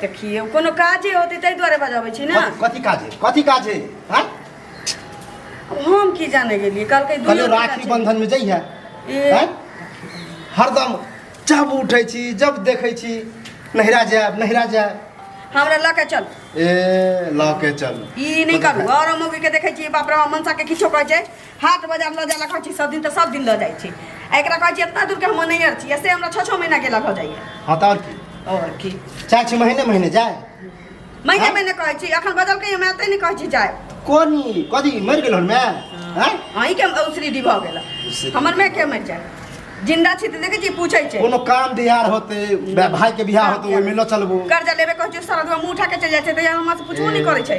देखिए कोनो काजे होते तै दुआरे बजाबै छी ना कथी काज है कथी काज है हां हम की जाने गेलिए कल के दुनिया राखी बंधन में जई है हां हरदम जब उठै छी जब देखै छी नहिरा जाब नहिरा जाब हमरा ल के चल ए ल के चल ई नहीं करू और मौगी के देखै छी बाप रे मनसा के किछो कहै छै हाट बाजार लऽ जाए कहै छी सब दिन तऽ सब दिन लऽ जाइ छी आ एकरा कहै छी इतना दूरके हम नहि छी से हमरा छओ छओ महीना गेला भऽ जाइए हँ तऽ आओर की आओर की चाहे छी महीने महीने जाए महीने हाँ? महीने कहै छी अखन बदल के हमरा एतै नहि कहै छी जाए कोनी कथी मरि गेल हन माय अहीं के उसरी डी भऽ गेल हमर माय के मरि जाए जिंदा छी देखे छी पूछे छै कोनो काम दिहार होते भाई के बियाह होते ओइ में ल चलबो कर्जा लेबे कहै छै सारा मुंह उठा के चल जाय छै त हमरा से पूछबो नहीं करे छै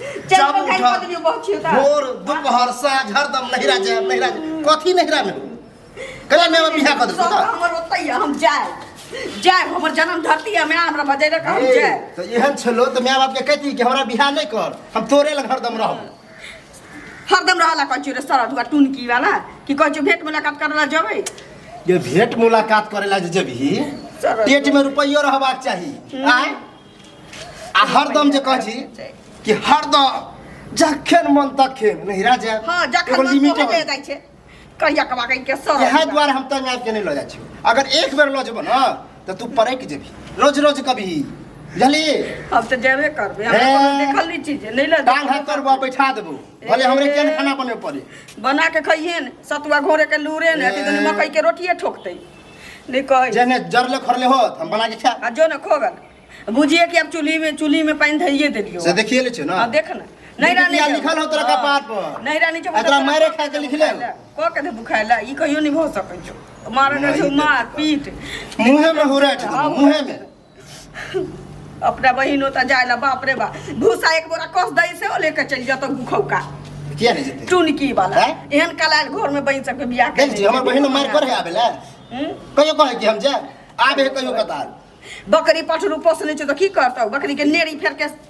चल चाबू पकड़ उठा। पत्नी बहुत छिलता भोर दुपहर साँझ हरदम नहिरा जाए नहिरा जाए कथी नहिरा में कला में हम बिहा कर सब देता हमर ओतै है, हम जाए जाए हमर जन्म धरती है मैं हमरा बजेरे का हम जाए तो एहन छलो तो माय बाप के कहती कि हमरा बिहा नहीं कर हम तोरे लग हरदम रहब हरदम रहला कंचू रे सरद हुआ टुनकी वाला कि कंचू भेंट मुलाकात करला जबै ये भेंट मुलाकात करे ला जे जबही सरद। पेट में रुपयो रहबाक चाही आय आ हरदम जे कहै छी कि हरदम जखन मन तखन नहिरा जाय हाँ जखन एगो मन लिमिट तोहर ले जाइ छै कहिया कमा कहि के सर इएह दुआरे हम तंग आबि के नहि लऽ जाइ छियौ अगर एक बेर लऽ जेबौ ने तऽ तू पड़ैक जेबही रोज रोज कभी बुझली अब तऽ जेबे करबै हमरा हे। कोनो देखल नहि चीज है, नहि लऽ टांग हाथ पर बा बैठा देबौ भले हमरे केहन खाना बने पड़े बना के खइहे ने सतुआ घोरे के लूरे ने ए। अथी दुनू मकई के रोटिए ठोकतै नहीं कहे जेने जरले खरले हो हम बना के खा आ जो ना खोगन बुझिए कि अब चूल्ही में चूल्ही में पानी धरिए देलियो से देखिए ले छे ना हाँ देख ना नहीं रानी किया जब- लिखल हो तोरा हाँ, कपार पर? नहीं रानी जब आ तोरा मारे खा के लिखले हो? को के दे बुखाइला ई कहियो नहीं हो सकै छो मारे कर छो मार पीट मुंह में हो रहा है हाँ, मुंह में अपना बहिन होता जाए ला बाप रे बाप भूसा एक बोरा कस दई से ओ लेके चल जाता गुखौका किया नहीं जेतै टुनकी वाला हैं? एहन कला घर में बहिन सबके बियाह देख जी हमर बहिन मार पर है आबेला हम्म? कहियो कहै कि हम जाए आबे है कहियो कतार बकरी पठरू पोसने छै तऽ की करतौ बकरी के नेड़ी फेर के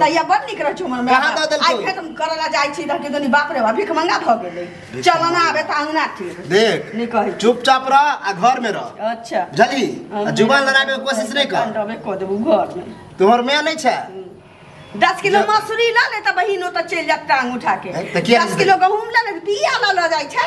तैया बड़ नीक रहै छौ हमर माय कहाँ दऽ बाप। देलकौ? आइ फेर हम करऽ लए जाइ छी तऽ कि दुनी बाप रे बाप भीख मंगा भऽ गेलै चल ना आबे तऽ अंगना तिर देख नहि कहै छी। चुपचाप रह आ घर में रह अच्छा बुझली आ जुबान लड़ाबे के कोशिश नहीं कर डबे कऽ देबू घर में तोहर माय नहीं छै दस किलो मसूरी लऽ ले तऽ बहिन ओतऽ चलि जायत टांग उठा के ए, तऽ किया दस किलो गहूँम लऽ ले तऽ बिया लऽ लऽ जाइ छै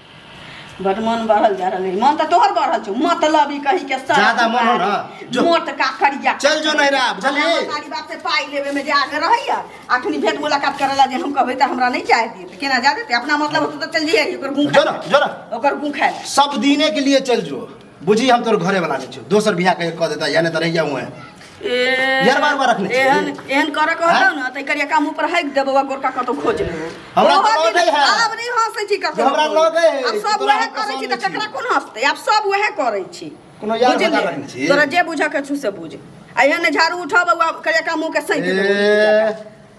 बड मन बढ़ल जा रहल है मन तो तोहर बढ़ल छौ मतलब ई कही के सर ज्यादा मन हो ना, जो। मोट का करिया चल जो नहिरा, बुझलिही? हमरा सारी बात से पाई लेवे में जे आगे रहैया अखनी भेंट मुलाकात करला जे हम कहबै त हमरा नहीं चाहे दिए त केना जा देते अपना मतलब होतो त चल जइए ओकर गुं जो ना जो ना ओकर गुं खाए सब दीने के लिए चल जो बुझी हम तोर घरे वाला नहीं छु दोसर बियाह के क देता या नहीं त रह जाऊ है ए यार बार बार रखने छी। एहन एहन करे के होतौ न त करिया काम ऊपर हाइक देबो आ गोरका कतौ खोज लेबो हमरा ओहो कोनो दिन- नहि है। आब नहि हंसै छी ककरो हमरा पर। लगे है, आब सब तोरा वएह हम करै छी त पसन्द छी। ककरा कोन हंसतै आब सब वएह करै छी कोनो यार बुझलियै? बता रखने छी। तोरा जे बुझ के छु से बुझ आ एहन झाड़ू उठब आ करिया काम मुंह के सैंत देबो ए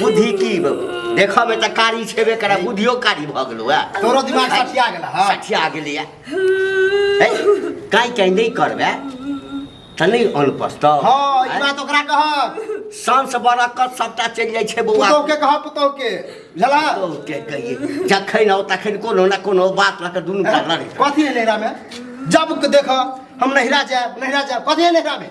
बुद्धि की देखऽ में तऽ कारी छेबे करे बुद्धियो कारी भऽ गेलो है तोरो दिमाग सठिया गेला हां सठिया गेली है काई काई नहीं करबे तऽ नहीं अन पस्तो हां ई बात ओकरा कहब सांस बरकत सबटा चलि जाइ छै बौआ पुतौ के कहब पुतौ के बुझला पुतौ के कहिए जखन हो तखन कोनो ना कोनो बात लऽ कऽ दुनू का लड़े कथी है नहिरा में जब देखऽ हम नहिरा जायब नहिरा जायब कथी है नहिरा में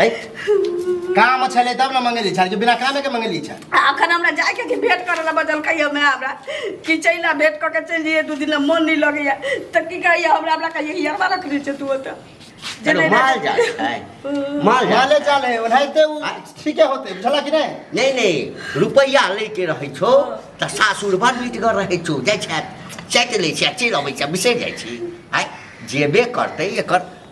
है काम छले तब ना मंगेली छाल के बिना कामे के मंगेली छाल अखन हमरा जाय के भेट करे ला बदल कहियो मैं हमरा कि चैला भेट क के चल जइए दू दिन ला मन नहीं लगे या त की कहिए हमरा हमरा कहिए कि यार रख दे तू त जे अरे नहीं माल रख- जाल है माल जाल माले चाल है ओनाहिते उ ठीके होते बुझला कि नहीं नहीं नहीं रुपैया लेके रहै छौ त सासुर बड़ मिटगर रहै छौ जाइ छै चाटि लै छै आ चलि अबै छै बिसरि जाइ छी आइ जेबे करतै एकर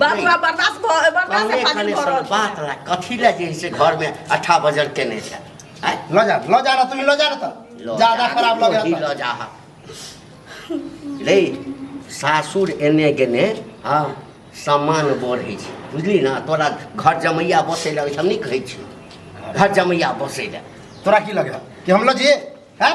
बात हमरा बर्दाश्त भऽ बर्दाश्त से पानी भऽ रहल छै। बात ला कथी ला जे से घर में अठा बजर केने छै आय ल जा ल जा ना तुम ल जा ना तो लऽ ज्यादा जा, खराब लग वही रहा लऽ जा हा। रे सासुर एने गेने हँ सम्मान बढ़ै छै बुझली ना तोरा घर जमैया बसै लगे छै हम नहि कहै छी घर जमैया बसै लए तोरा की लगे कि हम ल जे हैं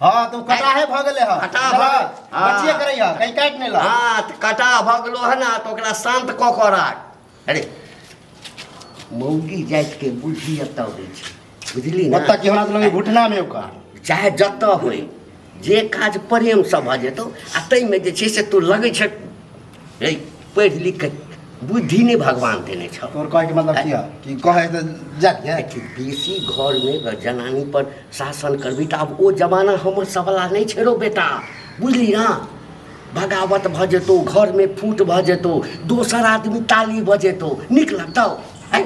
हाँ तो कटाहे भऽ गेलै हँ कटाह चलऽ, भऽ गेल। हाँ। बचिए करै हँ कहीं काटि नहि लऽ हाँ तऽ कटा भऽ गेलो है ना तऽ ओकरा शान्त कऽ कऽ राख अरे मौगी जातिके बुद्धि एतऽ होइ छै बुझली ना ओतऽ की हमरा तऽ लगैए घुटनामे ओकर चाहे जतऽ होय जे काज प्रेमसँ भऽ जेतौ आ ताहिमे जे छै से तू लगै छै रे पढ़ि लिख के बुद्धि नहि भगवान देने छौ तोर कहे के मतलब किया कि कहे त जा के देखी बेसी घर में अगर जनानी पर शासन करबी तऽ आब ओ जमाना हमर सब वाला नहि छै रो बेटा बुझली ना बगावत भऽ जेतौ घर में फूट भऽ जेतौ दोसर आदमी ताली भऽ जेतौ नीक लगतौ हैं?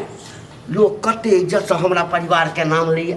लोक कते इज्जत से हमरा परिवार के नाम लैया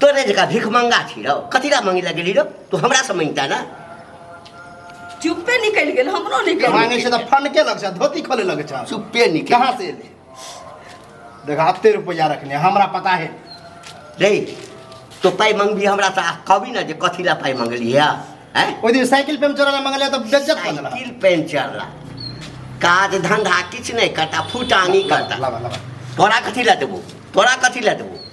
तोरे जका भिख मंगा छी रौ कथी ला मंगी लगेली रौ तू हमरा से मंगता ना चुप्पे निकलि गेल हमरो निकलि मांगे छै त फंड के लग छै धोती खोले लग छै चुप्पे निकल कहाँ से एले देख हफ्ते रुपया रखने हमरा पता है रे तो पाई मंगबी हमरा से आ कहबी ना जे कथी ला पाई मंगली है हैं ओहि दिन साइकिल पे हम चोरा मंगले त बेज्जत कर देला साइकिल पंचर ला काज धंधा किछ नहीं करता फुटानी करता लावा लावा तोरा कथी ला देबो तोरा कथी ला देबो